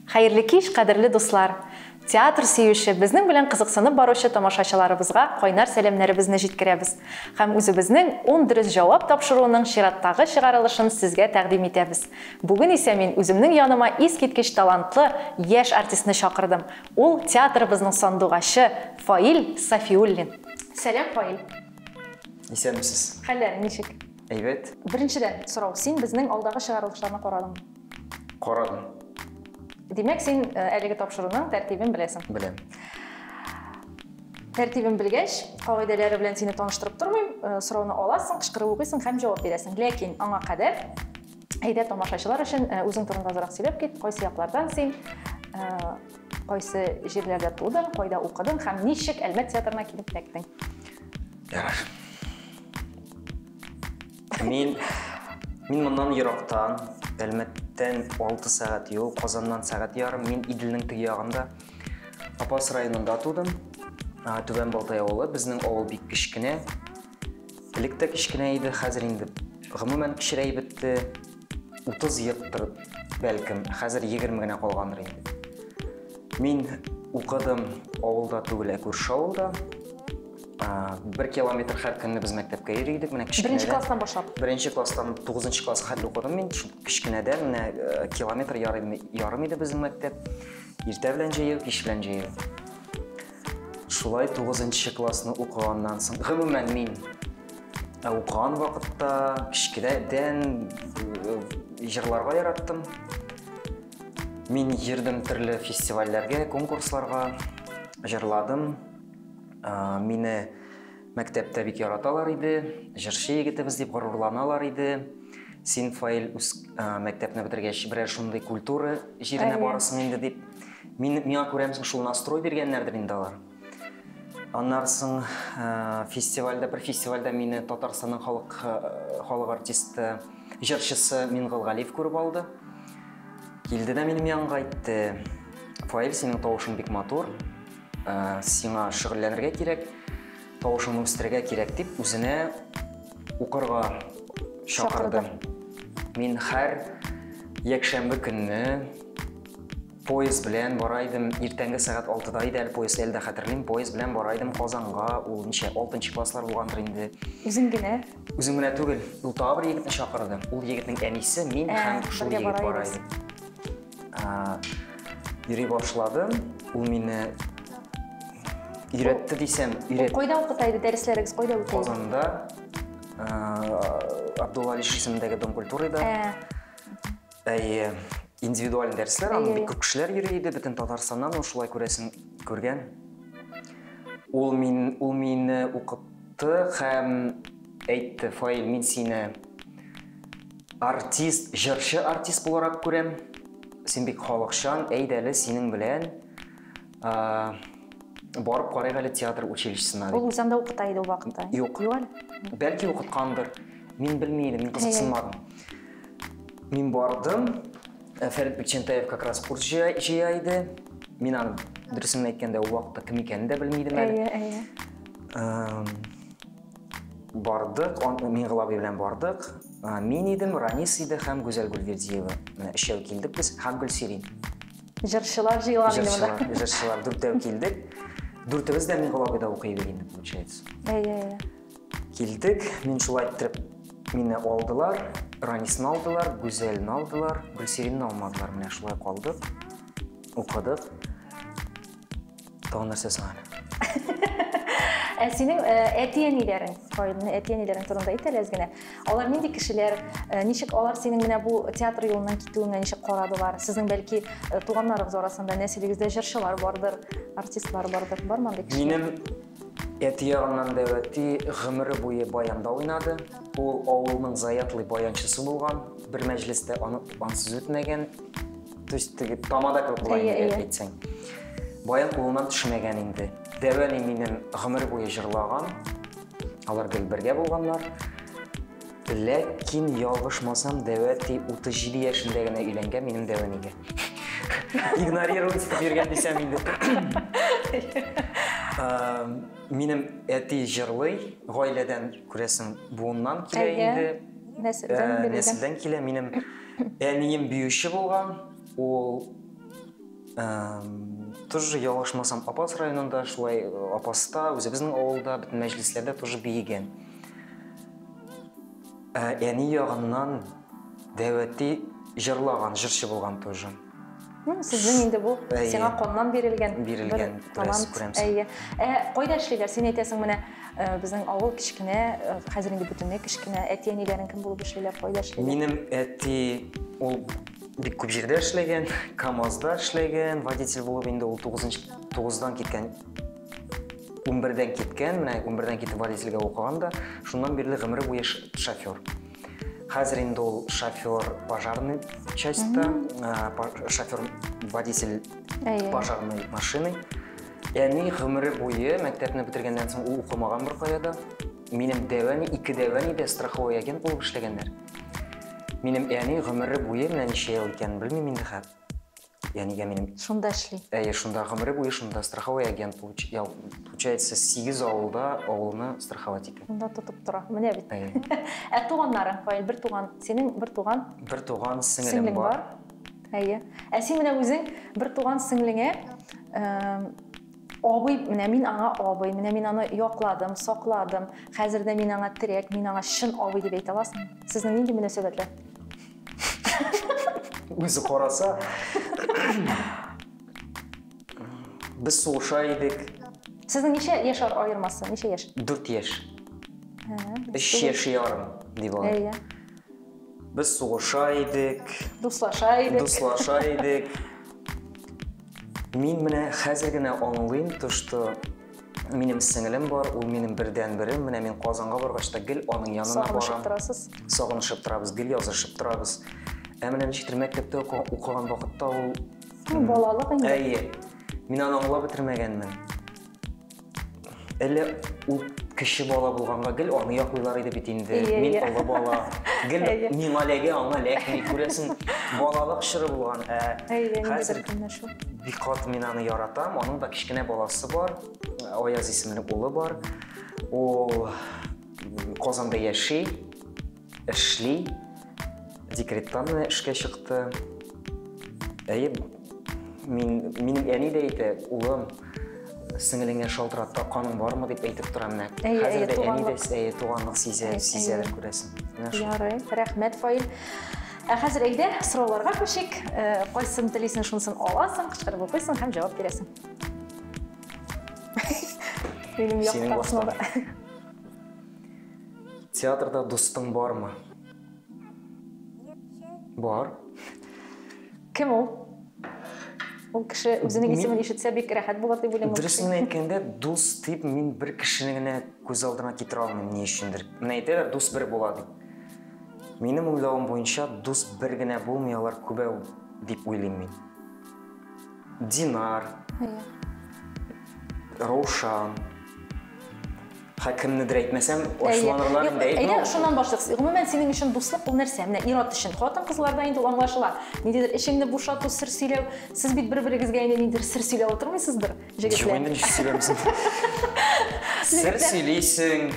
Хәерле кич, кадерле дуслар! Театр сөюче, безнең белән кызыксынып баручы тамашачыларыбызга кайнар сәламнәребезне җиткерәбез һәм үзебезнең 10 дөрес җавап тапшыруының чираттагы чыгарылышын сезгә тәкъдим итәбез. Бүген исә мин үземнең яныма искиткеч талантлы яшь артистны чакырдым. Ул театрыбызның сандугачы Фаил Сафиуллин. Сәлам, Фаил! Исәнмесез. Хәлләрең ничек? Әйбәт. Беренчедән сорау, син безнең алдагы чыгарылышларны карадыңмы? Карадым. Димәк, син әлеге тапшыруның тәртибен беләсең? Беләм. Тәртибен белгәч, кагыйдәләре белән сине таныштырып тормыйм, сорауны аласың, кычкырып укыйсың һәм җавап бирәсең. Ләкин аңа кадәр Әйдә, тамашачылар өчен үзең турында азрак сөйләп кит, кайсы яклардан син, кайсы җирләрдә тудың, кайда укыдың һәм ничек Әлмәт театрына килеп эләктең? Ярар. Мин мин моннан ерактан, Әлмәттән 6 сәгать юл, Казаннан сәгать ярым. Мин Иделнең теге ягында, Апас районында тудым. Түбән Балтай авылы, безнең авыл бик кечкенә. Элек тә кечкенә иде, хәзер инде гомумән кечерәй бетте. 30 елдыр, бәлкем, хәзер 20 генә калгандыр инде. Мин укыдым авылда түгел, ә күрше авылда. Бер километр һәр көнне без мәктәпкә йөри идек. Менә кечкенәдән. Беренче класстан башлап. Беренче класстан 9 класс хәтле укыдым мин. Кечкенәдән менә э, километр ярым иде безнең мәктәп. Иртә белән җәяү, кич белән җәяү. Шулай тугызынчы классны укыганнан соң, гомумән мин ә укыган вакытта кечкенәдән э, җырларга яраттым. Мин йөрдем төрле фестивальләргә, конкурсларга, җырладым. Ә, мине Мәктәптә бик яраталар иде, җырчы егетебез дип горурланалар иде. Син, Фаил, үз мәктәпне бетергәч, берәр шундый культура җиренә барасың инде дип. Мин, миңа күрәмсең, шул настрой биргәннәрдер инде алар. Аннары соң фестивальдә, бер фестивальдә мине Татарстанның халык халык артисты, җырчысы Мингол Галиев күреп алды. Килде дә минем янга әйтте, Фаил, синең тавышың бик матур, Ә, сиңа шөгыльләнергә кирәк, тавышыңны үстерергә кирәк дип үзенә укырга чакырды. Мин һәр якшәмбе көнне поезд белән бара идем, иртәнге сәгать 6-да иде әле поезд, әле дә хәтерлим, поезд белән бара идем Казанга, ул ничә 6 класслар булгандыр инде. Үзең генә? Үзем генә түгел, ул тагы бер егетне чакырды. Ул егетнең әнисе, мин ә, һәм шул егет бара иде. Йөри башладым. Ул мине өйрәтте дисәм, өйрәтте. Кайда укыта иде дәресләрегез? Кайда үтә? Казанда Абдулла Алиш исемендәге Дом культурада. Ә. Әйе. Индивидуаль дәресләр, аны бик күп кешеләр йөри иде, бөтен Татарстаннан ул шулай күрәсен күргән. Ул мин ул мине укытты һәм әйтте, Фаил, мин сине Артист, җырчы артист буларак күрәм. Син бик халыкчан, әйдә әле синең белән барып карыйк әле театр училищесына дип. Ул үзе анда укыта иде ул вакытта. Юк. Юк әле. Бәлки укыткандыр. Мин белми идем, мин кызыксынмадым. Мин бардым. Э, Фәрит Бекчентаев как раз курс җыя, җыя иде. Мин аны дөресен әйткәндә ул вакытта кем икәнен дә белми идем әле. Әйе, әйе. Бардык, мин Глаби белән бардык. Мин идем, Ранис иде һәм Гүзәл Гөлвердиева. Өчәү килдек без һәм Гөлсирин. Җырчылар җыелган инде монда. Җырчылар, җырчылар дүртәү килдек. Дүртебез дә мин Глабида укый идек инде, получается. Әйе, әйе. Килдек, мин шулай иттереп мине алдылар, Ранисны алдылар, Гүзәлне алдылар, Гөлсиринны алмадылар, менә шулай калдык, укыдык. Тагын нәрсә соң әле? Ә синең э, әти-әниләрең, Фаилнең әти-әниләрең турында әйт әле әз генә. Алар нинди кешеләр? Э, Ничек алар синең менә бу театр юлыннан китүеңә ничек карадылар? Сезнең бәлки э, туганнарыгыз арасында нәселегездә җырчылар бардыр, артистлар бардыр. Бармы андый кеше? Минем әти ягыннан да әти гомере буе баянда уйнады. Ул авылның заятлый баянчысы булган. Бер мәҗлестә аны ансыз үтмәгән. То есть теге тамада кебек була инде әйе, әйтсәң. Баян кулыннан төшмәгән инде. Дәвә ни минем гомер буе җырлаган. Алар гел бергә булганнар. Ләкин ялгышмасам, Дәвә ти 37 яшендә генә өйләнгән минем Дәвә нигә. Игнорировать итеп йөргән дисәм инде. Минем әти җырлый, гаиләдән күрәсең, буыннан килә инде. Нәселдән килә минем Әнием биюче булган, ул тоже ялгышмасам Апас районында, шулай э, Апаста, үзебезнең авылда, бөтен мәҗлесләрдә тоже биегән. Ә әни ягыннан Дәвәти җырлаган, җырчы булган тоже. Сезнең инде бу сиңа коннан бирелгән бирелгән талант. Әйе. Ә кайда эшлиләр? Син әйтәсең менә э, безнең авыл кечкенә, э, хәзер инде бөтенләй кечкенә. Әти әниләрең кем булып эшлиләр? Кайда эшлиләр? Минем әти ул бик күп җирдә эшләгән, КАМАЗда эшләгән, водитель булып инде ул 9 9-дан киткән 11-дән киткән, менә 11-дән китеп водительгә укыган да, шуннан бирле гомере буе шофер. Хәзер инде ул шофер пожарный частьта, шофер водитель пожарный машины. Әни гомере буе мәктәпне бетергәннән соң ул укымаган бер каяда. Минем дәвәни, ике дәвәни дә страховой агент булып эшләгәннәр. Минем әни гомере буе менә ничә ел икәнен белмим инде хәзер. Я нигә минем... Шунда эшли. Әйе, шунда гомере буе шунда страховой агент получ... я, получается 8 авылда авылны страховать итә. Шунда тотып тора. Менә бит. Әйе. Ә туганнарың, Фаил, бер туган, синең бер туган? Бер туган сеңелем Сеңлең бар. бар. Әйе. Ә син менә үзең бер туган сеңлеңә абый, менә мин аңа абый, менә мин аны якладым, сакладым. Хәзер дә мин аңа терәк, мин аңа чын абый дип әйтә аласың. Сезнең нинди мөнәсәбәтләр? Үзе караса, без сугыша идек. Сезнең ничә яшь аермасы? Ничә яшь? Дүрт яшь. Өч яшь ярым, дип алайк. Без сугыша идек. Дуслаша идек. Дуслаша идек. Мин менә хәзер генә аңлыйм, то, что Минем сеңелем бар, ул минем бердән берем. Менә мин Казанга баргач та гел аның янына барам. Сагынышып торасыз. Сагынышып торабыз, гел язышып торабыз. Ә менә ничектер мәктәптә укыган вакытта ул ну, балалык инде. Әйе. Мин аны аңлап бетермәгәнмен. Әле ул кеше бала булганга гел аны яклыйлар иде бит инде. Мин олы бала. Гел миңа ләгә, аңа ләкми күрәсең, балалык чоры булган. Ә хәзер көннәр шул. Бик каты мин аны яратам. Аның да кечкенә баласы бар. Аяз исемле улы бар. Ул Казанда яши, эшли. Декреттан менә эшкә чыкты. Әйе, мин минем әни дә әйтә, улым, сеңелеңә шалтыратта каның бармы дип әйтеп тора менә. Хәзер дә әни дә әйе туганлык сизә, сизә күрәсең. Ярый, рәхмәт, Фаил. Ә хәзер әйдә, сорауларга күчик. Э, кайсын телисең, шунысын аласың, кычкырып укыйсың һәм җавап бирәсең. Минем яктасына Театрда дустың бармы? Бар. Кем ул? Ул кеше үзенең исемен ишетсә бик рәхәт булыр дип уйлыйм. Дөресен әйткәндә, дус дип мин бер кешене генә күз алдына китерә алмыйм ни өчендер. Менә әйтәләр, дус бер була дип. Минем уйлавым буенча, дус бер генә булмый, алар күбәү дип уйлыйм мин. Динар, Раушан, Хә кемнедер әйтмәсәм, ачуланырлар инде. Әйдә, шуннан башлыйк. Гомумән, синең өчен дуслык ул нәрсә? Менә ир-ат өчен, хатын-кызларда инде аңлашыла. Ниндидер эчеңне бушату, сер сөйләү. Сез бит бер-берегезгә инде ниндидер сер сөйләп утырмыйсыздыр, җегетләр? Юк, инде ничек сөйләрбез? Сер сөйлисең,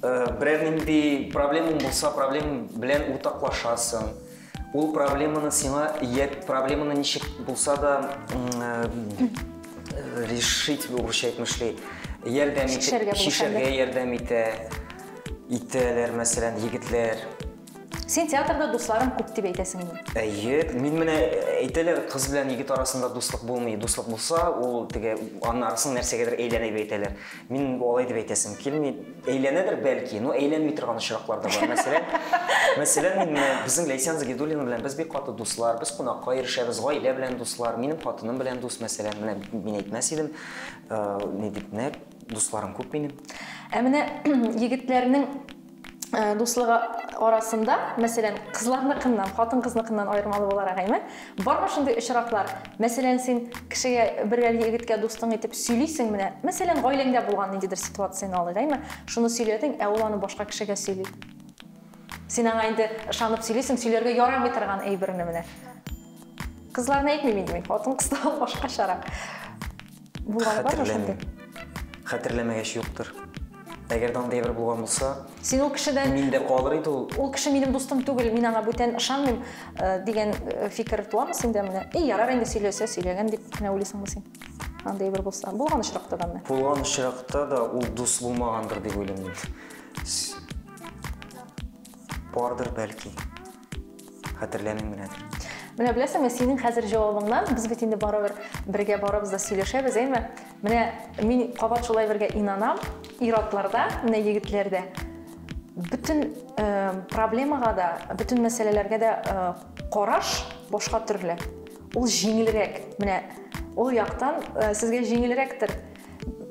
Берәр нинди проблемаң булса, проблем белән уртаклашасың. Ул проблеманы сиңа, я проблеманы ничек булса да решить, урысча әйтмешли, ярдәм итә, шишәргә ярдәм итә, итәләр, мәсәлән, егетләр. Син театрда дусларың күп дип әйтәсеңме? Әйе, мин менә әйтәләр, кыз белән егет арасында дуслык булмый. Дуслык булса, ул теге анын арасын нәрсәгәдер әйләнә дип әйтәләр. Мин алай дип әйтәсем килми. Әйләнәдер бәлки, но әйләнми торган очраклар да бар. Мәсәлән, мәсәлән, мин менә безнең Ләйсән Загидуллина белән без бик каты дуслар, без кунакка ирешәбез, гаилә белән дуслар, минем хатыным белән дус, мәсәлән, менә мин әйтмәс идем, ни дип, нәкъ дусларым күп минем. Ә менә егетләрнең Э, дуслыгы арасында мәсәлән кызларныкыннан хатын кызныкыннан аермалы буларак әйме бармы шундый очраклар мәсәлән син кешегә бер әлеге егеткә дустың итеп сөйлисең менә мәсәлән гаиләңдә булган ниндидер ситуацияне алыйк әйме шуны сөйләдең ә ул аны башка кешегә сөйли син аңа инде ышанып сөйлисең сөйләргә ярамый торган әйберне менә кызларны әйтмим инде мин хатын кызда башкачарак Булганы бармы шундый? Хәтерләмәгәч юктыр. Әгәр дә андый бер булган булса, син ул кешедән мин дә калыр иде ул. Ул кеше минем дустым түгел, мин аңа бүтән ышанмыйм э, дигән э, фикер туамы синдә менә? И, ярар инде сөйләсә, сөйләгән дип кенә уйлыйсыңмы син? Андый бер булса, булган очракта да менә. Булган очракта да ул дус булмагандыр дип уйлыйм мин. Бардыр, бәлки. Хәтерләмим генә. Менә беләсеңме, синең хәзер җавабыңнан без бит инде барыбер бергә барабыз да сөйләшәбез, әйме? Менә мин кабат шулай бергә инанам, ир-атларда, менә егетләрдә бөтен э, проблемага да, бөтен мәсьәләләргә дә э, караш башка төрле. Ул җиңелрәк. Менә ул яктан э, сезгә җиңелрәктер.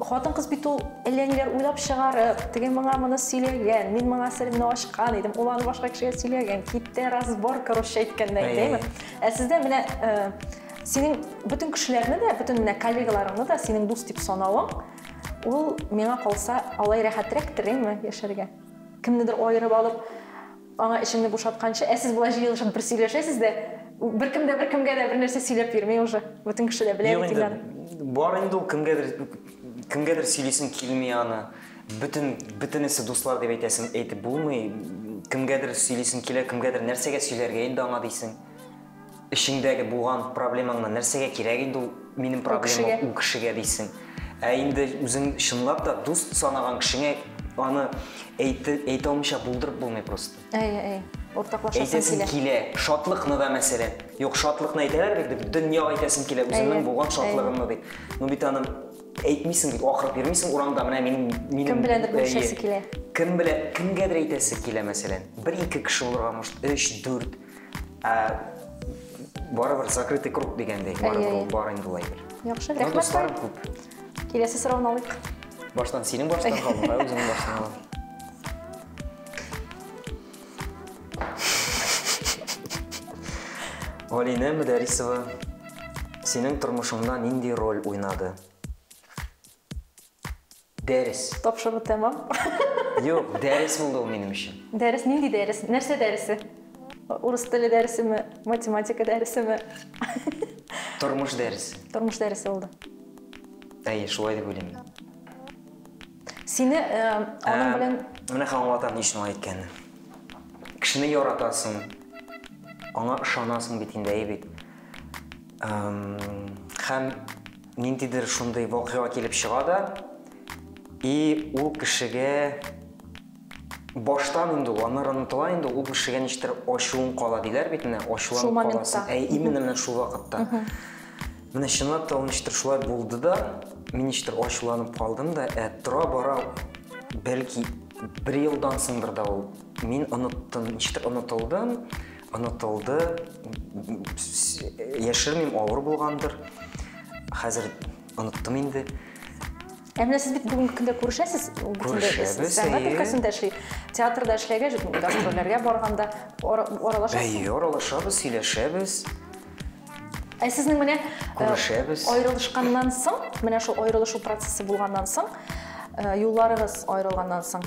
Хатын кыз бит ул әллә ниләр уйлап чыгарып, теге моңа моны сөйләгән, мин моңа серемне ачкан идем, ул аны башка кешегә сөйләгән, китте разбор, короче, әйткәндә, әйдәме? Ә сездә менә э, синең бөтен кешеләрне дә, бөтен менә коллегаларыңны да синең дус дип санавың, ул миңа калса алай рәхәтрәктер, әйме, яшәргә. Кемнедер аерып алып, Аңа эчемне бушатканчы, ә сез болай җыелышып бер сөйләшәсез дә, беркем дә беркемгә дә бернәрсә сөйләп йөрми уже, бөтен кеше дә белә Юк бит инде, Ильнар. бар инде ул кемгәдер, кемгәдер сөйлисең килми аны, бөтен, бөтенесе дуслар дип әйтәсең, әйтеп булмый, кемгәдер сөйлисең килә, кемгәдер нәрсәгә сөйләргә инде аңа дисең. эчеңдәге булган проблемаңны нәрсәгә кирәк инде ул минем проблема ул кешегә дисең ә инде үзең чынлап та дус санаган кешеңә аны әйтә алмыйча булдырып булмый просто әйе әйе уртаклашасың килә килә шатлыкны да мәсәлән юк шатлыкны әйтәләр бит дип дөньяга әйтәсең килә үзеңнең булган шатлыгыңны дип ну бит аны әйтмисең бит акырып йөрмисең урамда менә минем минем кем беләндер бүлешәсе килә кем белән кемгәдер әйтәсе килә мәсәлән бер ике кеше булырга может өч дүрт Ә, барыбер закрытый круг дигәндәй, барыбер ул бар инде улай бер. Яхшы, рәхмәт. Дусларым күп. Киләсе сорауны алыйк. Баштан синең баштан калдың, ә үзең баштан алам. Галинә Мөдәрисова, синең тормышыңда нинди роль уйнады? Дәрес. Тапшыру тәмам. Юк, дәрес булды ул минем өчен. Дәрес, нинди дәрес? Нәрсә дәресе? Урыс теле дәресеме? Математика дәресеме? Тормыш дәресе. Тормыш дәресе булды. Әйе, шулай дип уйлыйм мин. Сине э, аның белән... Менә хәзер аңлатам ни өчен алай әйткәнен. Кешене яратасың, аңа ышанасың бит инде, әйе бит. Эм, Һәм ниндидер шундый вакыйга килеп чыга да, и ул кешегә баштан инде ул, аннары онытыла инде, ул кешегә ничектер ачуың кала диләр бит менә, ачуланып каласың. Ә именно менә шул вакытта. Менә чынлап та ул ничектер шулай булды да, мин ничектер ачуланып калдым да, ә тора бара бәлки бер елдан соңдыр да ул мин оныттым, ничектер онытылдым. Онытылды. Яшермим, авыр булгандыр. Хәзер оныттым инде. Ә менә сез бит бүгенге көндә күрешәсез. Күрешәбез. Сәнгать өлкәсендә эшли. Театрда эшләгә, гастрольләргә барганда аралашасыз. Әйе, аралашабыз, сөйләшәбез. Ә сезнең менә күрешәбез. Аерылышканнан соң, менә шул аерылышу процессы булганнан соң, юлларыгыз аерылганнан соң,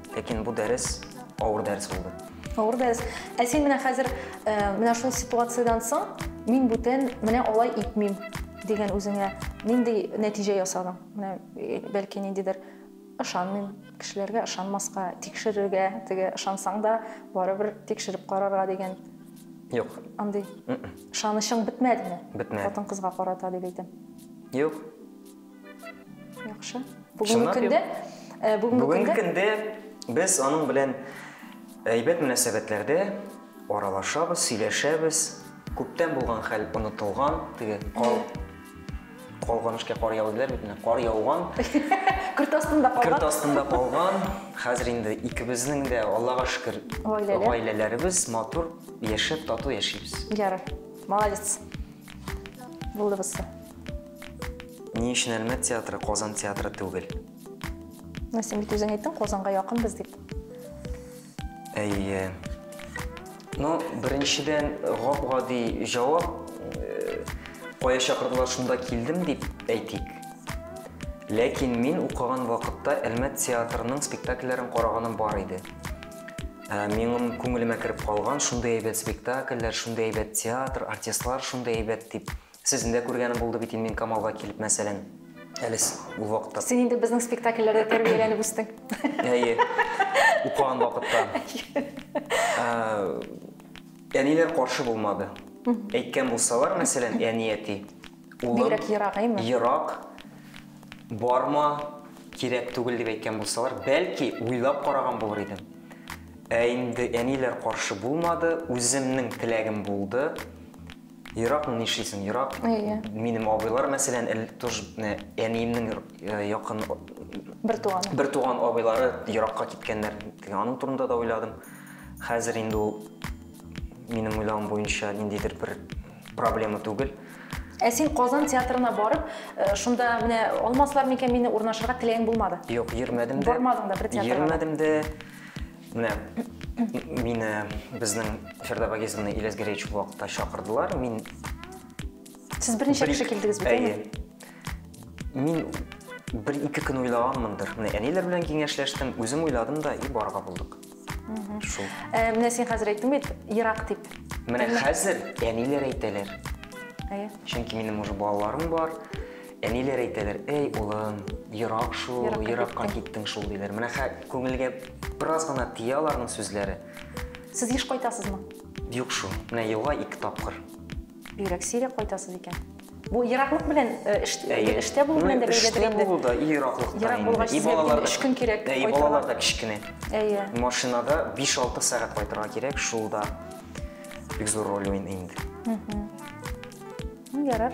Ләкин бу дәрес авыр дәрес булды. Авыр дәрес. Ә син менә хәзер э, менә шул ситуациядән соң мин бүтән менә алай итмим дигән үзеңә нинди нәтиҗә ясадың? Менә э, бәлки ниндидер ышанмыйм, кешеләргә ышанмаска, тикшерергә, теге ышансаң да барыбер тикшереп карарга дигән Юк. Андый. М-м. Ышанычың бетмәдеме? Бетмәде. Хатын кызга карата дип әйтәм. Юк. Яхшы. Бүгенге көндә э, бүгенге көндә без аның белән әйбәт мөнәсәбәтләрдә аралашабыз, сөйләшәбез. Күптән булган хәл онытылган, теге кал калган эшкә кар яуды диләр бит менә кар яуган көрт астында калган көрт астында калган хәзер инде икебезнең дә аллага шөкер гаиләләребез матур яшәп тату яшибез ярый молодец булды бысы Ни өчен Әлмәт театры, Казан театры түгел? Менә син бит үзең әйттең, Казанга якынбыз дип. Әйе. Ну, беренчедән, гап-гади җавап, э, кая чакырдылар, шунда килдем дип әйтик. Ләкин мин укыган вакытта Әлмәт театрының спектакльләрен караганым бар иде. Ә, Минем күңелемә кереп калган шундый әйбәт спектакльләр, шундый әйбәт театр, артистлар шундый әйбәт дип Сезне дә күргәнем булды бит инде мин Камалга килеп, мәсәлән. Әле с- ул вакытта. Син инде безнең спектакльләрдә тәрбияләнеп үстең. Әйе. Укыган вакытта. Ә, Әниләр каршы булмады. Әйткән булсалар, мәсәлән, әни, әти, улым, Бигрәк ерагыймы? ерак, барма, кирәк түгел дип әйткән булсалар, бәлки, уйлап караган булыр идем. Ә инде әниләр каршы булмады, үземнең теләгем булды. Еракны нишлисең, ерак. Әйе. Минем абыйлар, мәсәлән, эл- тож, э, әниемнең р- э, якын Бертуганы. бертуган абыйлары еракка киткәннәр. Теге аның турында да уйладым. Хәзер инде ул, минем уйлавым буенча, ниндидер бер проблема түгел. Ә син Казан театрына барып, э, шунда менә алмаслар микән мине, урнашырга теләгең булмады? Юк, йөрмәдем дә. Бармадың да бер театрга да? Йөрмәдем дә. Менә мине безнең Фәрдә Багизовна Ильяс Гәрәевич вакытта чакырдылар. Мин Сез берничә кеше килдегез бит, әйе? Мин бер ике көн уйлаганмындыр. Менә әниләр белән киңәшләштем, үзем уйладым да и барга булдык. Шул. Э, менә син хәзер әйттең бит, ерак дип. Менә хәзер әниләр әйтәләр. Әйе. Чөнки минем уже балаларым бар. Әниләр әйтәләр, әй улым, ерак шул, еракка, еракка киттең шул, диләр. Менә хә күңелгә бераз гына тия аларның сүзләре. Сез еш кайтасызмы? Юк шул, менә елга ике тапкыр. Бигрәк сирәк кайтасыз икән. Бу ераклык белән э, эш, Әйе. эштә булу белән дә бәйледер Эштә инде. булу да, и ераклыкта Ерак инде. булгач, И сезгә балалар да- өч көн кирәк Әйе, кайтырга. балалар да кечкенә. Әйе. Машинада 5-6 сәгать кайтырга кирәк, шул да бик зур роль уйный инде. Ну, ярар.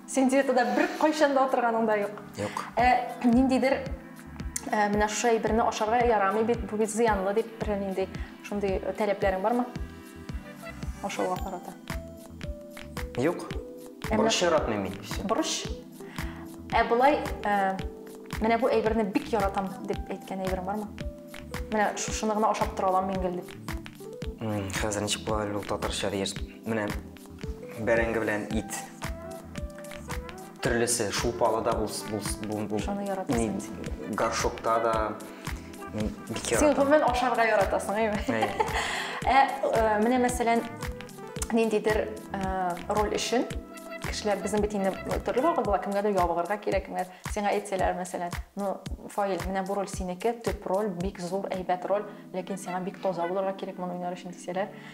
Син диетада бер кайчан да утырганың да юк. Юк. Ә ниндидер ә, менә шушы әйберне ашарга ярамый бит, бу бит зыянлы дип бер нинди шундый таләпләрең бармы? Ашауга карата. Юк. Борыч яратмыйм мин. Борыч? Ә болай, ә, менә бу әйберне бик яратам дип әйткән әйберең бармы? Менә шушыны гына ашап тора алам мин гел дип. Хәзер ничек була әле ул татарча диер. Менә Бәрәңге белән ит. Төрлесе, шулпалы да булс, булс, бул, бул, Шуны яратасың. ни, горшокта да. Мин бик Син яратам. гомумән ашарга яратасың, әйме? Әйе. Ә, э, менә мәсәлән, ниндидер э, роль өчен кешеләр безнең бит инде төрле вакыт була, кемгәдер ябыгырга кирәк, кемгә сиңа әйтсәләр, мәсәлән, ну, Фаил, менә бу роль синеке, төп роль, бик зур, әйбәт роль, ләкин сиңа бик таза булырга кирәк моны уйнар өчен дисәләр,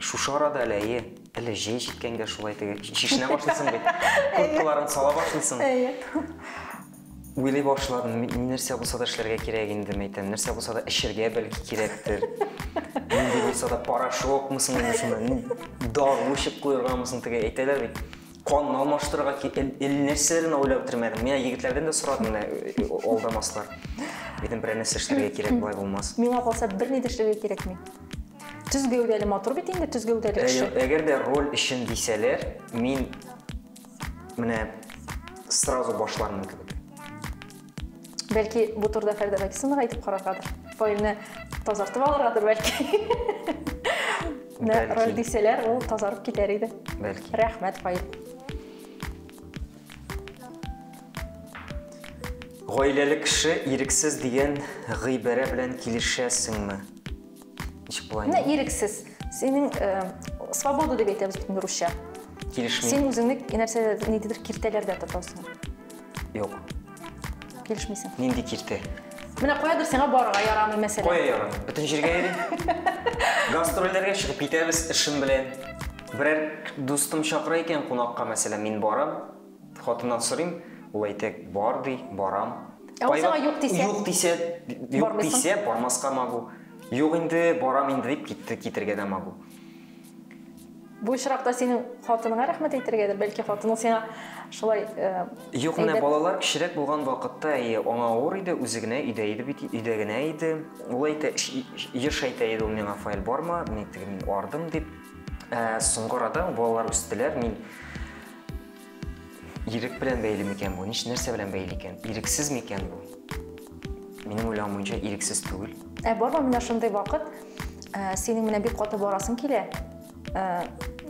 Шушы арада әле, әйе, әле җәй җиткәнгә шулай теге чишенә башлыйсың бит. Курткаларын сала башлыйсың. Әйе. Уйлый башладым, мин нәрсә булса да эшләргә кирәк инде, мәйтәм, нәрсә булса да эчергә бәлки кирәктер. Нинди булса да порошокмы соң инде шунда, дару эчеп куергамы соң теге әйтәләр бит. Канны алмаштырырга ки, әллә нәрсә генә уйлап бетермәдем. Менә егетләрдән дә сорадым, менә э, э, э, алдамаслар. Дидем, берәр нәрсә эшләргә кирәк, болай булмас. Миңа калса берни дә эшләргә кирәкми. Төз гәүдәле матур бит инде, төз гәүдәле Ә- кеше. Әгәр дә роль өчен дисәләр, мин менә сразу башлармын кебек. Бәлки бу турыда Фәридә Бәкисовнага әйтеп караргадыр. Файлны тазартып алыргадыр бәлки. Менә роль дисәләр, ул тазарып китәр иде. Бәлки. Рәхмәт, файл. Гаиләле кеше ирексез дигән гыйбарә белән килешәсеңме? Ничек була инде? Ирексез. Синең э, свобода дип әйтәбез бит русча. Килешми. Син үзеңне нәрсәдә ниндидер киртәләрдә тотасың. Юк. Килешмисең. Нинди киртә? Менә куядыр сиңа барырга ярамый мәсәлән. Кая ярамый? Бөтен җиргә йөрим. Гастрольләргә чыгып китәбез эшем белән. Берәр дустым чакыра икән кунакка, мәсәлән, мин барам, хатыннан сорыйм, ул әйтә, бар ди, барам. Ә ул сиңа юк дисә? Юк дисә, юк дисә, бармаска могу. Юк инде, барам инде дип китергә дә могу. Бу очракта синең хатыныңа рәхмәт әйтергәдер, бәлки хатының сиңа шулай э, Юк, менә әйбәт- балалар кечерәк булган вакытта, әйе, аңа авыр иде, үзе генә өйдә иде бит, өйдә генә иде. Ул әйтә, ш- еш әйтә иде ул миңа, Фаил, барма, мин теге мин ардым, дип. Ә соңгы арада балалар үстеләр, мин Ирек белән бәйле микән бу? Ниш нәрсә белән бәйле икән? Ирексез микән бу? Минем уйлавым буенча ирексез түгел. Ә барма менә шундый вакыт, ә, синең менә бик каты барасың килә. Ә,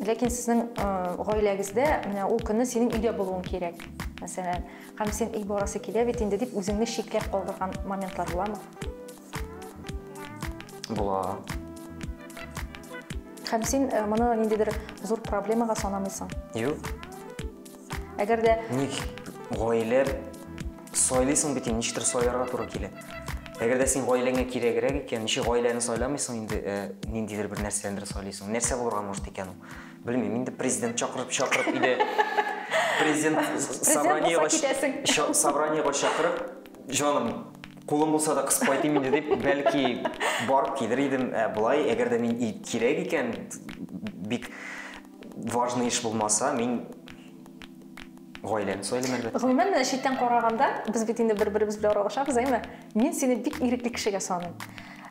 ләкин сезнең ә, гаиләгездә менә ул көнне синең өйдә булуың кирәк. Мәсәлән, һәм син өй барасы килә бит инде дип үзеңне чикләп калдырган моментлар буламы? Була. Һәм син э, моны ниндидер зур проблемага санамыйсың? Юк. Әгәр дә ник гаилә сайлыйсың бит, ничектер сайларга туры килә. Әгәр дә син гаиләңә кирәгрәк икән, ничек гаиләне сайламыйсың инде, э, ниндидер бер нәрсәләрне сайлыйсың. Нәрсә булырга может икән ул? Белмим, инде президент чакырып чакырып иде. Президент собраниега собраниега чакырып, Җаным, кулым булса да кысып кайтыйм инде дип, бәлки барып килер идем, ә болай, әгәр дә мин кирәк икән, бик важный эш булмаса, мин гаиләне сайлыйм әлбәттә. Гомумән, менә читтән караганда, без бит инде бер-беребез белән аралашабыз, әйме? Мин сине бик ирекле кешегә саныйм.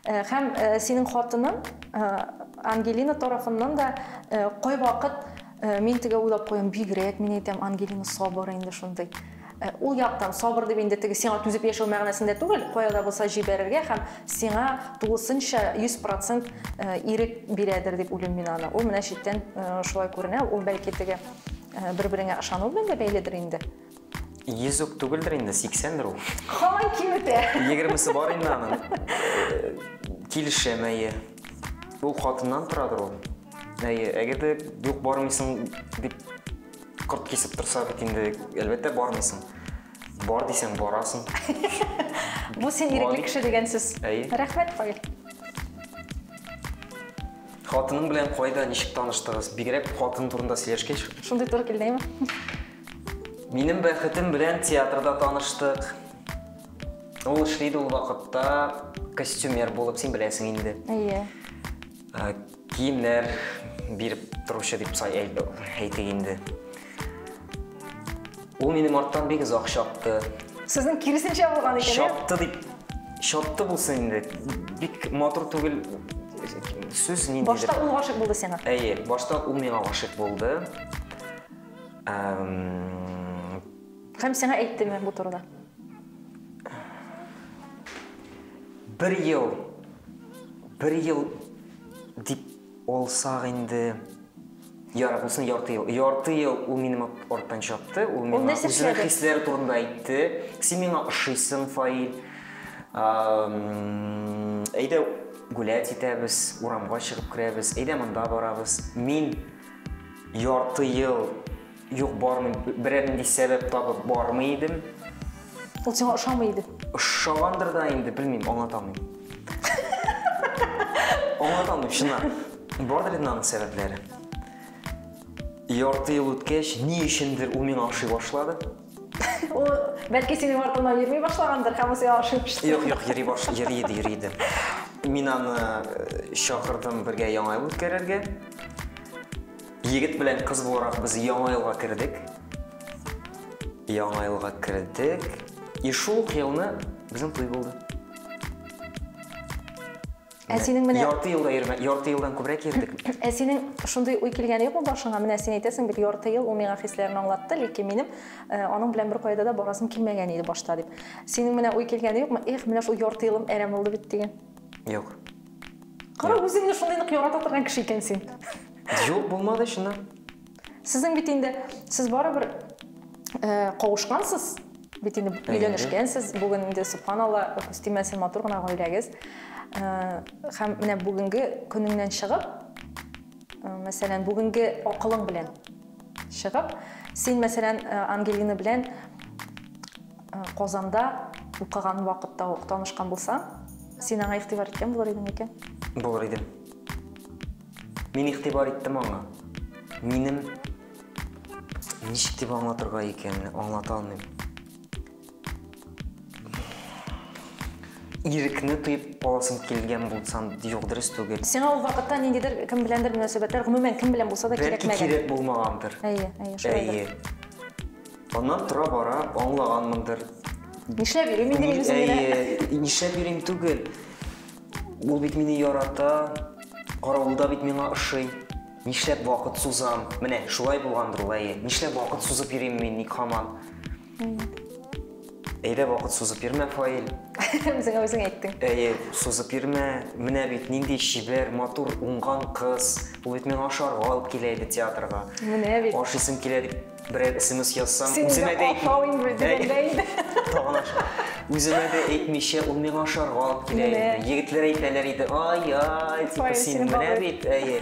Э, һәм э, синең хатының э, Ангелина тарафыннан да кайвакыт Мин теге уйлап куям, бигрәк, мин әйтәм, Ангелина сабыр инде шундый. Э, ул яктан сабыр дип инде теге сиңа түзеп яшәү мәгънәсендә түгел, кая да булса җибәрергә һәм сиңа тулысынча 100% э, ирек бирәдер дип уйлыйм мин аны. Ул менә читтән э, шулай күренә, ул бәлки теге бер-береңә ышану белән дә бәйледер инде. Йөзүк түгелдер инде, 80-дер ул. Һаман киметә. 20-се бар инде аның. Килешәм, әйе. Ул хатыннан торадыр ул. Әйе, әгәр дә юк бармыйсың дип корт кисеп торса бит инде, әлбәттә бармыйсың. Бар дисәң, барасың. Бу син ирекле кеше дигән сүз. Әйе. Рәхмәт, Фаил. Хатының белән кайда, ничек таныштыгыз? Бигрәк хатын турында сөйләшкәч. Шундый туры килдеңме? Минем бәхетем белән театрда таныштык. Ул эшли иде ул вакытта костюмер булып, син беләсең инде. Әйе. Ә, Киемнәр биреп торучы дип сай әйт- әйтик инде. Ул минем арттан бик озак чапты. Сезнең киресенчә булган икән, ә? Чапты дип, чапты булсын инде. Бик матур түгел сүз ниндидер. Башта ул гашык булды сиңа. Әйе, башта ул миңа гашык булды. Һәм сиңа әйттеме бу турыда? Бер ел, бер ел дип алсак инде, ярар, булсын ярты ел. Ярты ел ул минем арттан чапты, ул миңа нәрсә үзенең эшләде? хисләре турында әйтте. Син миңа ошыйсың, Фаил. Ам, Әйдә гулять итәбез, урамга чыгып керәбез, әйдә монда барабыз. Мин Ярты ел юк бармый, берәр нинди сәбәп табып бармый идем. Ул сиңа ошамый иде. Ошагандыр да инде, белмим, аңлата алмыйм. Аңлата алмыйм, чыннан. Бардыр инде аның сәбәпләре. Ярты ел үткәч, ни өчендер ул миңа ошый башлады. Ул бәлки синең артыңнан йөрми башлагандыр һәм ул сиңа ашыгып төште. Юк, юк, йөри баш, йөри иде, йөри иде. Мин аны э, чакырдым бергә яңа ел үткәрергә. Егет белән кыз буларак без яңа елга кердек. Яңа елга кердек. И шул ук елны безнең туй булды. Ә синең менә ярты елда йөрмә, ярты елдан күбрәк йөрдек. Ә синең шундый уй килгән юкмы башыңа? Менә син әйтәсең бит, ярты ел ул миңа хисләрен аңлатты, ләкин минем э, аның белән бер кайда да барасым килмәгән иде башта дип. Синең менә уй килгән юкмы? Эх, менә шул ярты елым әрәм булды бит дигән. Юк. Кара, үзеңне шундый нык ярата торган кеше икән син. Юк, булмады чыннан. Сезнең бит инде, сез барыбер кавышкансыз, бит инде өйләнешкәнсез, бүген инде субханалла, үстимәсен матур гына гаиләгез. Һәм менә бүгенге көнеңнән чыгып, мәсәлән, бүгенге акылың белән чыгып, син, мәсәлән, Ангелина белән Казанда укыган вакытта ук танышкан булсаң, син аңа игътибар иткән булыр идең микән? Булыр идем. Мин игътибар иттем аңа. Минем ничек дип аңлатырга икән, аңлата алмыйм. Ирекне тоеп каласым килгән булсам, юк, дөрес түгел. Сиңа ул вакытта ниндидер кем беләндер мөнәсәбәтләр, гомумән кем белән булса да кирәкмәгән. Бәлки кирәк булмагандыр. Әйе, әйе, шулайдыр. Әйе. Аннан тора бара аңлаганмындыр. Нишләп йөрим инде мин үзем генә? Әйе, нишләп йөрим түгел. Ул бит мине ярата, каравылда бит миңа ошый. Нишләп вакыт сузам? Менә шулай булгандыр ул, әйе. Нишләп вакыт сузып йөрим мин ник хаман? Әйдә вакыт сузып йөрмә, Фаил. Үзеңә үзең әйттең. Әйе, сузып йөрмә. Менә бит нинди чибәр, матур, уңган кыз. Ул бит миңа ашарга алып килә иде театрга. Менә бит. Ашыйсым килә дип Берәр смс язсам, Син үземә дә ашавың белдерәләр инде. Тагын аша. Үземә дә әйтмичә, ул миңа ашарга алып килә иде. Егетләр әйтәләр иде, ай-яй, типа син менә бит, әйе.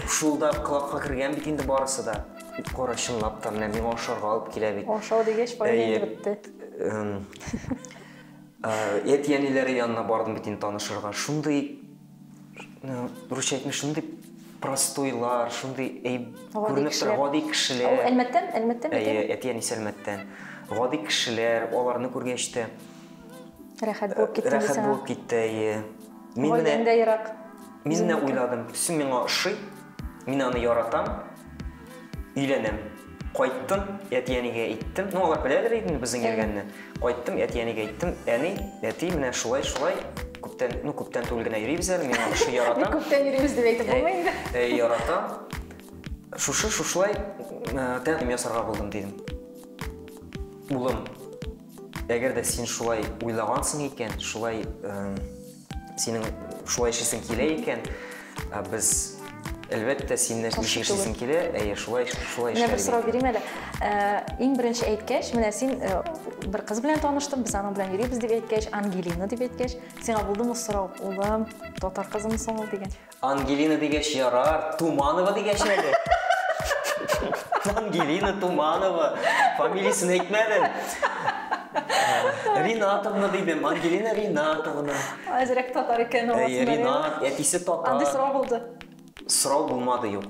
Шул да колакка кергән бит инде барысы да. Кара, чынлап та, менә миңа ашарга алып килә бит. Ашау дигәч, файда бетте. Әти-әниләре янына бардым бит инде танышырга. Шундый русча әйтмеш шундый простойлар шундый күренеп тора гади кешеләр ул әлмәттән әлмәттән әйе әти әнисе әлмәттән гади кешеләр аларны күргәч тә рәхәт булып китте рәхәт булып китте әйе мин менә ерак мин менә уйладым төсем миңа ошый мин аны яратам Өйләнәм. Кайттым, әти-әнигә әйттем. Ну, алар беләләр инде безнең йөргәнне. Кайттым, әти-әнигә әйттем. Әни, әти, менә шулай-шулай күптән, ну, күптән түгел генә йөрибез әле. Мин аны шушы яратам. Күптән йөрибез дип әйтеп булмый инде. Ә, яратам. Шушы шушылай тәкъдим ясарга булдым, дидем. Улым, әгәр дә син шулай уйлагансың икән, шулай Синең шулай эшлисең килә икән, ә без әлбәттә синне ничек эшлисең килә, әйе, шулай шулай эшләргә. Менә бер сорау бирим әле. Э, иң беренче әйткәч, менә син э, бер кыз белән таныштым, без аның белән йөрибез дип әйткәч, Ангелина дип әйткәч, сиңа булдымы сорау, улым, татар кызымы соң ул дигән? Ангелина дигәч ярар, Туманова дигәч әле. Ангелина Туманова. Фамилиясен әйтмәдем. Ринатовна дидем, Ангелина Ринатовна. Әзрәк татар икән ул. Ринат, әтисе татар. Андый сорау булды. Сорау булмады, юк.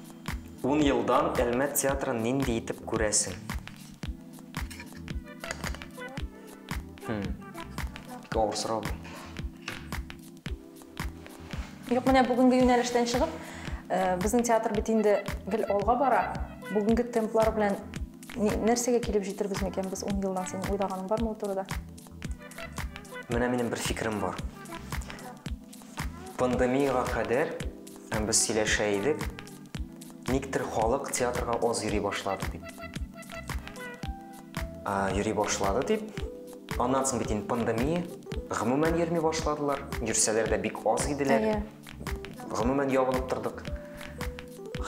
Ун елдан Әлмәт театрын нинди итеп күрәсең? Хм. Бик авыр сорау бу. Юк, менә бүгенге юнәлештән чыгып, э, безнең театр бит инде гел алга бара. Бүгенге темплар белән нәрсәгә килеп җитербез микән без 10 елдан? Син уйлаганың бармы бу турыда? Менә минем бер фикерем бар. Пандемиягә кадәр без сөйләшә идек, никтер халык театрга аз йөри башлады дип. Йөри башлады дип, аннан соң бит инде пандемия, гомумән йөрми башладылар, йөрсәләр дә бик аз иделәр. Гомумән ябылып тордык.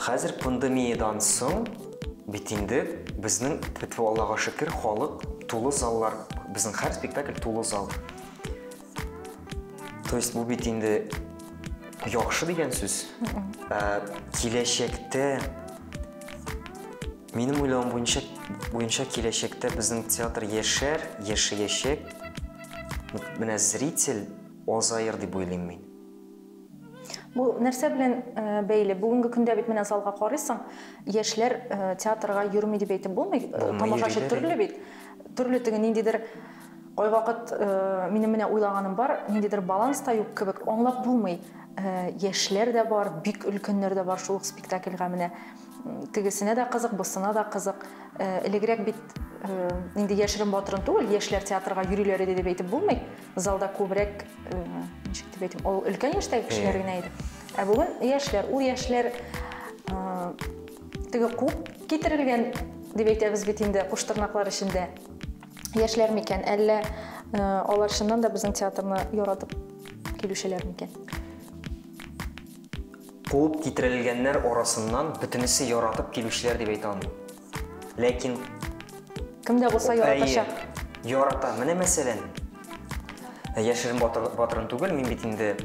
Хәзер пандемиядән соң бит инде безнең, тфү-тфү, Аллага шөкер, халык, тулы заллар, безнең һәр спектакль тулы зал. То есть бу бит инде яхшы дигән сүз. Ә, киләчәктә минем уйлавым буенча буенча киләчәктә безнең театр яшәр, яшәячәк. Менә зритель азаер дип уйлыйм мин. Бу нәрсә белән бәйле? Бүгенге көндә бит менә залга карыйсың, яшьләр театрга йөрми дип әйтеп булмый. Тамашачы төрле бит. Төрле теге ниндидер кайвакыт минем менә уйлаганым бар, ниндидер баланс та юк кебек, аңлап булмый. Яшьләр дә бар, бик өлкәннәр дә бар шул ук спектакльгә менә. Тегесенә дә кызык, бусына да кызык. Элегрәк бит инде яшерен-батырын түгел, яшьләр театрга йөриләр иде дип әйтеп булмый. залда күбрәк э, ничек дип әйтим ул өлкән яшьтәге кешеләр генә иде ә бүген яшьләр ул яшьләр э, теге куып китерелгән дип әйтәбез бит инде куш тырнаклар эчендә яшьләр микән әллә э, алар чыннан да безнең театрны яратып килүчеләр микән куып китерелгәннәр арасыннан бөтенесе яратып килүчеләр дип әйтә алмыйм Ләкин кем дә булса яратачак. Ярата. Менә мәсәлән, яшерен батырын түгел, мин бит инде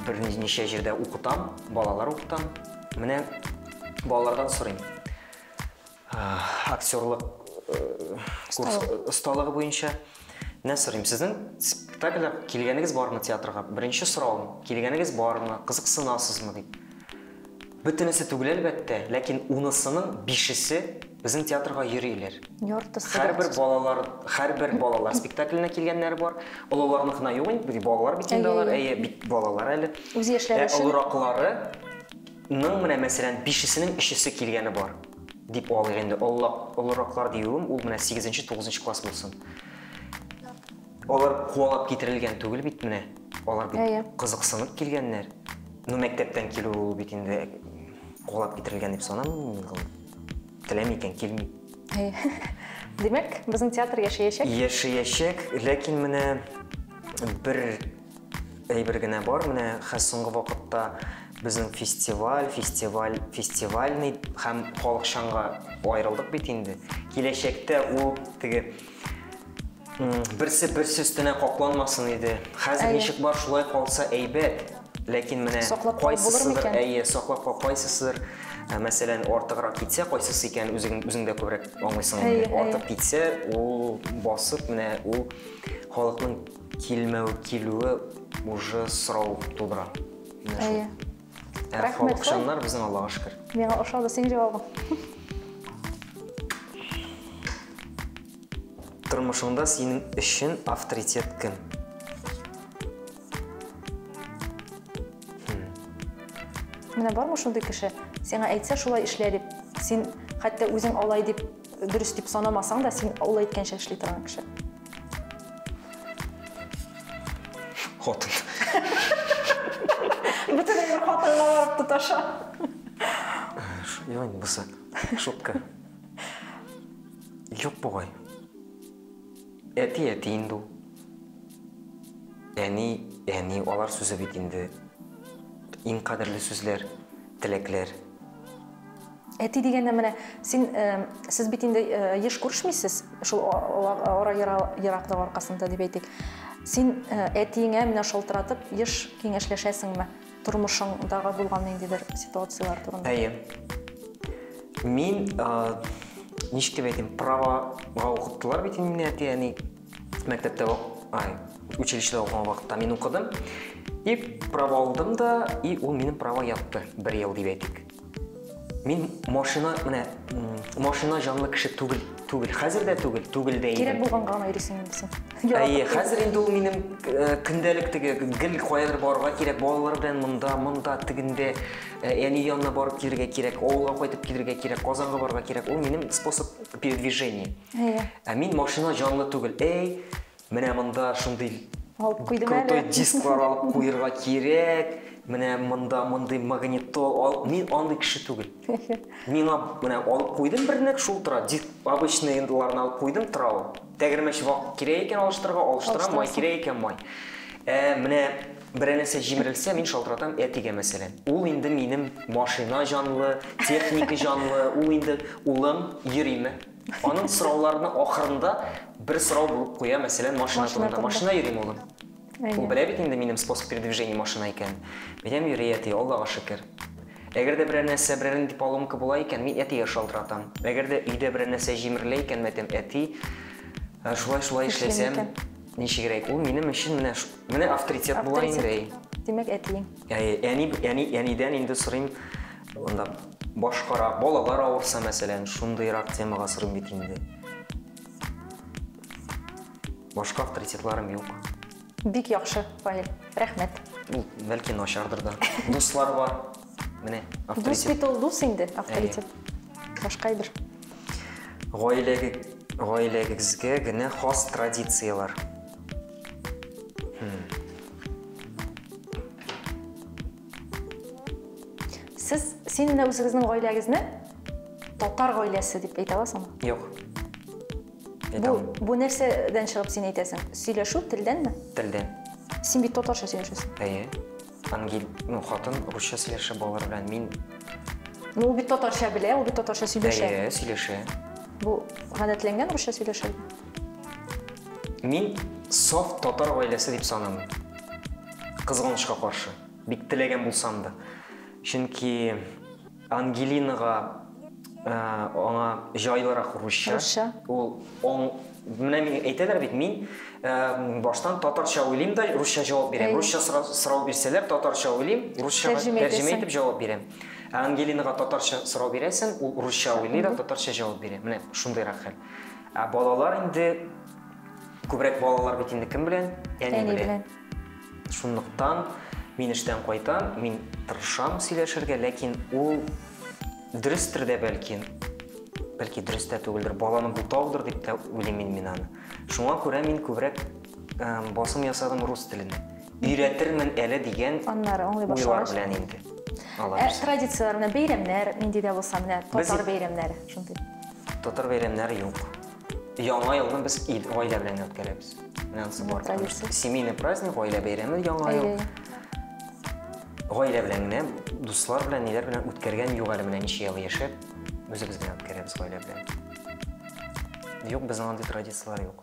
берничә җирдә укытам, балалар укытам. Менә балалардан сорыйм. Актерлык курс осталыгы буенча менә сорыйм. Сезнең спектакльгә килгәнегез бармы театрга? Беренче сорауым, килгәнегез бармы? Кызыксынасызмы дип. Бөтенесе түгел, әлбәттә, ләкин унысының бишесе безнең театрга йөриләр. Яртысы. Һәрбер балалар, һәрбер балалар спектакленә килгәннәре бар. Олыларныкына юк инде, бит балалар бит инде алар, әйе, бит балалар әле. Үз яшьләре өчен. Ә олыраклары ның менә мәсәлән бишесенең өчесе килгәне бар дип алыйк инде олылак олыраклар диюем ул менә сигезенче тугызынчы класс булсын Алар куалап китерелгән түгел бит менә. Алар бит Әйе. кызыксынып килгәннәр. Ну, мәктәптән килү ул бит инде куалап китерелгән дип санамыйм мин ул. Теләми икән, килми. Әйе. Димәк, безнең театр яшәячәк? Яшәячәк, ләкин менә бер әйбер генә бар, менә хәз соңгы вакытта безнең фестиваль, фестиваль, фестивальный һәм халыкчанга аерылдык бит инде. Киләчәктә ул теге Берсе берсе өстенә капланмасын иде. Хәзер ничек бар шулай калса әйбәт. Ләкин менә кайсысыдыр, әйе, саклап кал, кайсысыдыр, ә, мәсәлән, артыграк китсә, кайсысы икән үзең үзең дә күбрәк аңлыйсың инде. Артык китсә, ул басып менә ул халыкның килмәү килүе уже сорау тудыра. Әйе. Рәхмәт. Ышаннар безнең Аллага шөкер. Миңа ошады синең җавабың. Тормышыңда синең өчен авторитет кем? Менә бармы шундый кеше? Сиңа әйтсә шулай эшлә дип. Син хәтта үзең алай дип Дөрес дип санамасаң да, син ул әйткәнчә эшли торган кеше. Хатын. Бүтән бер хатынга барып тоташа. Ян бусы. Шутка. Юк бугай. Әти әти инде ул. Әни, әни, алар сүзе бит инде. Иң кадерле сүзләр, теләкләр. Әти дигәндә менә син, сез бит инде еш күрешмисез, шул ара ераклык аркасында дип әйтик. Син әтиеңә менә шалтыратып еш киңәшләшәсеңме? Тормышыңдагы булган ниндидер ситуацияләр турында. Әйе. Мин ничек дип әйтим, правага укыттылар бит инде мине әти-әни. мәктәптә ай училищеда укыган вакытта мин укыдым и право алдым да и ул минем право ятты бер ел дип әйтик мин машина менә машина жанлы кеше түгел түгел хәзер дә түгел түгел дә кирәк булганга гына йөрисең инде әйе хәзер инде ул минем э, көндәлек теге гел каядыр барырга кирәк балалар белән монда монда тегендә э, әни янына барып килергә кирәк авылга кайтып килергә кирәк казанга барырга кирәк ул минем способ передвижения Әйе. Ә мин машина җанлы түгел. Әй, менә монда шундый алып куйдым әле. Крутой дисклар алып куерга кирәк. Менә монда мондый магнитол ал. Мин андый кеше түгел. Миңа менә алып куйдым бернек, шул тора. Диск обычный ендыларны алып куйдым, тора ул. Тәгәрмәч вак кирәк икән алыштырырга, алыштырам, май кирәк икән май. Ә менә берәр нәрсә җимерелсә, мин шалтыратам әтигә мәсәлән. Ул инде минем машина җанлы, техника җанлы, ул инде улым йөриме? Аның сорауларының ахырында бер сорау булып куя, мәсәлән, машина турында. Машина йөрим, улым. Ул белә бит инде минем способ передвижения машина икәнен. Минем йөри, әти, Аллага шөкер. Әгәр дә берәр нәрсә, берәр нинди поломка була икән, мин әтигә шалтыратам. Әгәр дә өйдә берәр нәрсә җимерелә икән, мәйтәм, әти, шулай-шулай эшләсәм, ничегрәк? Ул минем өчен менә, менә авторитет була инде. Авторитет. Димәк, әтиең. Әни, әни, әнидән инде сорыйм, анда башкара, балалар авырса, мәсәлән, шундыйрак темага сорыйм бит инде. Башка авторитетларым юк. Бик яхшы, Фаил. Рәхмәт. Ул бәлки начардыр да. Дуслар бар. Менә авторитет. Дус бит ул дус инде, авторитет. Башка әйбер. Гаиләгә гаиләгезгә генә хас традицияләр. Сез син менә үзегезнең гаиләгезне татар гаиләсе дип әйтә аласыңмы? Юк. Бу, бу нәрсәдән чыгып син әйтәсең? Сөйләшү телдәнме? Телдән. Син бит татарча сөйләшәсең. Әйе. Ангел, ну, хатын русча сөйләшә балалар белән. Мин Ну, ул бит татарча белә, ул бит татарча сөйләшә. Әйе, сөйләшә. Бу гадәтләнгән русча сөйләшә. Мин саф татар гаиләсе дип санамыйм. Кызганычка каршы, бик теләгән булсам да. Чөнки Ангелинага ә, аңа җайлырак русча. Русча. Ул он менә мин әйтәләр бит, мин ә, баштан татарча уйлыйм да русча җавап бирәм. Әй. Русча сорау, сорау бирсәләр, татарча уйлыйм, русчага Тәрҗемә итәсең. тәрҗемә итеп җавап бирәм. Ә Ангелинага татарча сорау бирәсең, ул русча уйлый да, татарча җавап бирә. Менә шундыйрак хәл. Ә балалар инде күбрәк балалар бит инде кем белән? Әни белән. Шунлыктан мин эштән кайтам, мин тырышам сөйләшергә, ләкин ул дөрестер дә бәлки, бәлки дөрес тә түгелдер, баланы бутаудыр дип тә уйлыйм мин мин аны. Шуңа күрә мин күбрәк басым ясадым рус телен. Өйрәтермен әле дигән Аннары аңлый уйлар башлагач. белән инде. Ә Алабыз. традицияләр менә бәйрәмнәр нинди дә булса менә Без- татар бәйрәмнәре шундый. Татар бәйрәмнәре юк. Яңа елны без ил гаилә белән үткәрәбез. Менә анысы бар. традиция. Семейный праздник, гаилә бәйрәме яңа ел. Әйе. Гаилә белән генә, дуслар белән, ниләр белән үткәргән юк әле менә ничә ел яшәп, үзебез генә үткәрәбез гаилә белән. Юк, безнең андый традицияләр юк.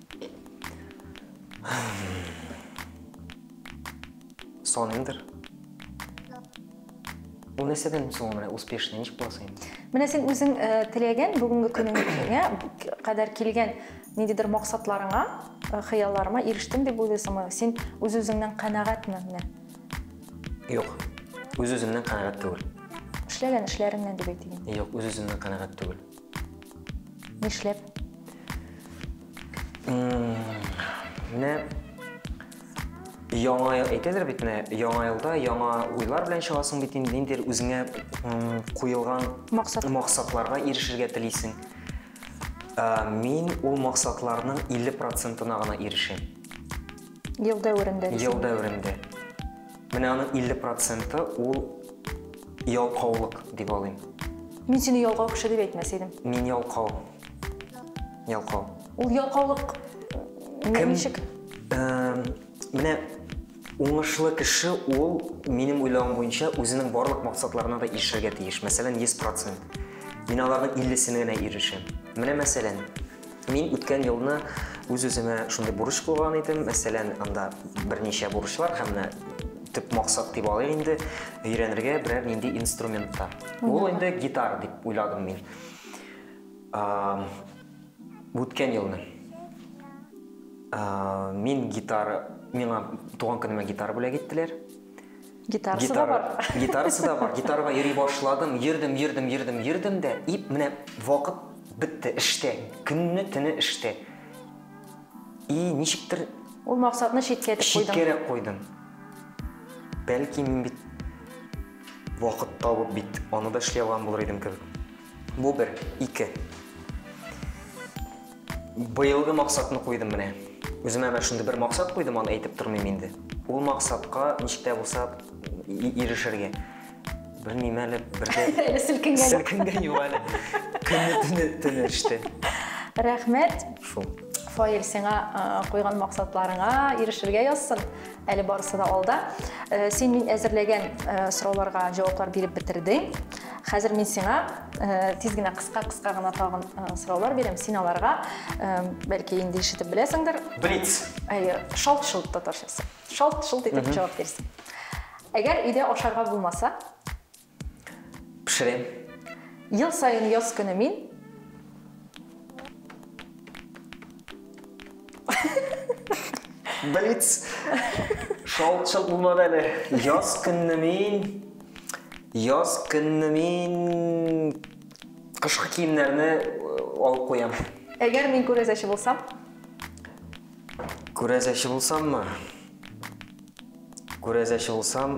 Соныңдыр. Бу нәрсәдән соң менә успешный ничек буласың инде? Менә син үзең э, теләгән бүгенге көнеңә кадәр килгән ниндидер максатларыңа, э, хыялларыма ирештем дип уйлыйсыңмы? Син үз үзеңнән канәгатьме менә? Юк. Үз үземнән канәгать түгел. Эшләгән эшләреңнән дип әйтегез. Юк, үз үземнән канәгать түгел. Нишләп? Менә яңа ел әйтәләр бит менә яңа елда яңа уйлар белән чыгасың бит инде ниндидер үзеңә куелган Максат. максатларга ирешергә телисең. Ә, Мин ул максатларның 50 процентына гына ирешәм. Ел дәверендә. Ел дәверендә. Менә аның 50 проценты ул ялкаулык дип алыйм. Мин сине ялкау кеше дип әйтмәс идем. Мин ялкау. Ялкау. Ул ялкаулык Кем? ничек? Эм, Менә уңышлы кеше ул, минем уйлавым буенча, үзенең барлык максатларына да ирешергә тиеш. Мәсәлән, 100 процент. Мин аларның 50-сенә генә ирешәм. Менә мәсәлән, Мин үткән елны үз-үземә шундый бурыч куйган идем. Мәсәлән, анда берничә бурычлар һәм менә төп максат дип алыйк инде, өйрәнергә берәр нинди инструменттар. Ул инде гитара дип уйладым мин. А, үткән елны. А, мин гитара, миңа туган көнемә гитара бүләк иттеләр. Гитарасы да бар. Гитарасы да бар. Гитарага йөри башладым. Йөрдем, йөрдем, йөрдем, йөрдем дә, и, менә вакыт бетте, эштә. Көнне, төне эштә. И, ничектер... Ул максатны читкә итеп куйдың. Читкәрәк куйдым. Бәлки мин бит вакыт табып бит аны да эшли алган булыр идем кебек. Бу бер, ике. Быелгы максатны куйдым менә. Үземә менә шундый бер максат куйдым, аны әйтеп тормыйм инде. Ул максатка ничек тә булса ирешергә. Белмим әле, бер дә... Әле селкенгән. Селкенгән юк әле. Көнне төне төне эште. Рәхмәт. Шул. Фаил, сиңа куйган максатларыңа ирешергә язсын. Әле барысы да алда. Син мин әзерләгән сорауларга җаваплар биреп бетердең. Хәзер мин сиңа тиз генә кыска-кыска гына тагын сораулар бирәм. Син аларга бәлки инде ишетеп беләсеңдер. Блиц. Әйе, шалт-шолт татарчасы. Шалт-шолт итеп җавап бирсен. Әгәр өйдә ашарга булмаса, Пешерәм. Ел саен яз көне мин. Блиц. Шалт-шалт булмады әле. Яз көнне мин яз көнне мин кышкы киемнәрне э, алып куям. Әгәр мин күрәзәче булсам? Күрәзәче булсаммы? Күрәзәче булсам,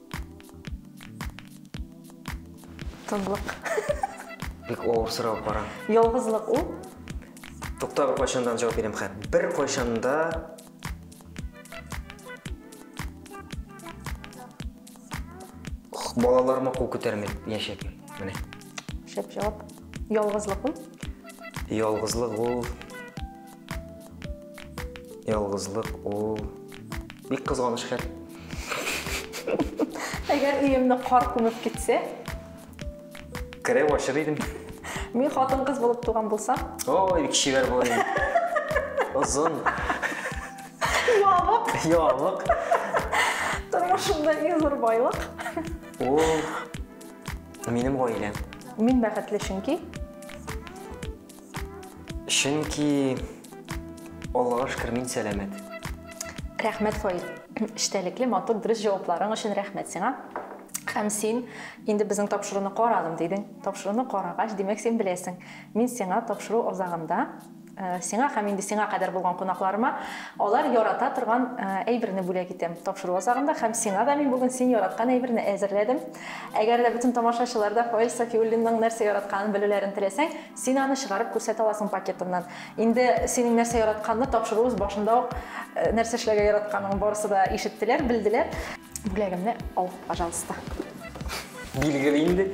Тынлык. Бик авыр сорау кара. Ялгызлык ул. Тукта бер кайчандан җавап бирәм хәт. Бер кайчанда балаларыма кул күтәрми яшәп. Менә. Шәп җавап. Ялгызлык ул. Ялгызлык ул. Ялгызлык ул бик кызганыч хәл. Әгәр өемне кар күмеп китсә? Кереп ачыр идем. Мин хатын кыз булып туган булсам? Ой, бик чибәр булыр идем. Озын. Ябык. Ябык. Тормышымда иң зур байлык. Ул минем гаиләм. Мин бәхетле чөнки. Чөнки Аллага шөкер мин сәламәт. Рәхмәт, Фаил. Эчтәлекле, матур, дөрес җавапларың өчен рәхмәт сиңа. Һәм син инде безнең тапшыруны карадым дидең. Тапшыруны карагач, димәк, син беләсең. Мин сиңа тапшыру азагында э, сиңа һәм инде сиңа кадәр булган кунакларыма алар ярата торган э, әйберне бүләк итәм. Тапшыру азагында һәм сиңа да мин бүген син яраткан әйберне әзерләдем. Әгәр дә бөтен тамашачылар да Фаил Сафиуллинның нәрсә яратканын белүләрен теләсәң, син аны чыгарып күрсәтә аласың пакетыннан. Инде синең нәрсә яратканны тапшыруыбыз башында ук э, нәрсә эшләргә яратканын барысы да ишеттеләр, белделәр. Бүләгемне ал, пожалуйста. Билгеле инде.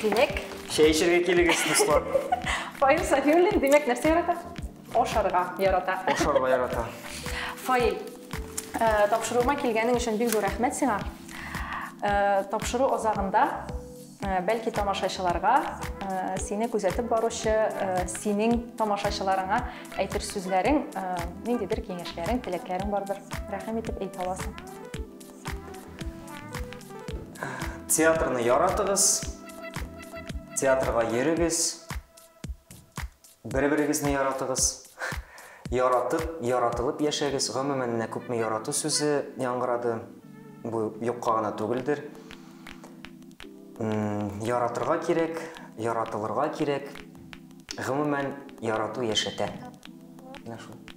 Димәк, Чәй эчәргә килегез, дуслар. Фаил Сафиуллин, димәк, нәрсә ярата? Ашарга ярата. Ашарга ярата. Фаил, тапшыруыма килгәнең өчен бик зур рәхмәт сиңа. Тапшыру азагында бәлки тамашачыларга сине күзәтеп баручы синең тамашачыларыңа әйтер сүзләрең, ниндидер киңәшләрең, теләкләрең бардыр. Рәхим итеп әйтә аласың. Театрны яратыгыз, театрга йөрегез. Бер-берегезне яратыгыз. Яратып, яратылып яшәгез. Гомумән, менә күпме ярату сүзе яңгырады. Бу юкка гына түгелдер. Яратырга кирәк, яратылырга кирәк. Гомумән, ярату яшәтә. Менә шул.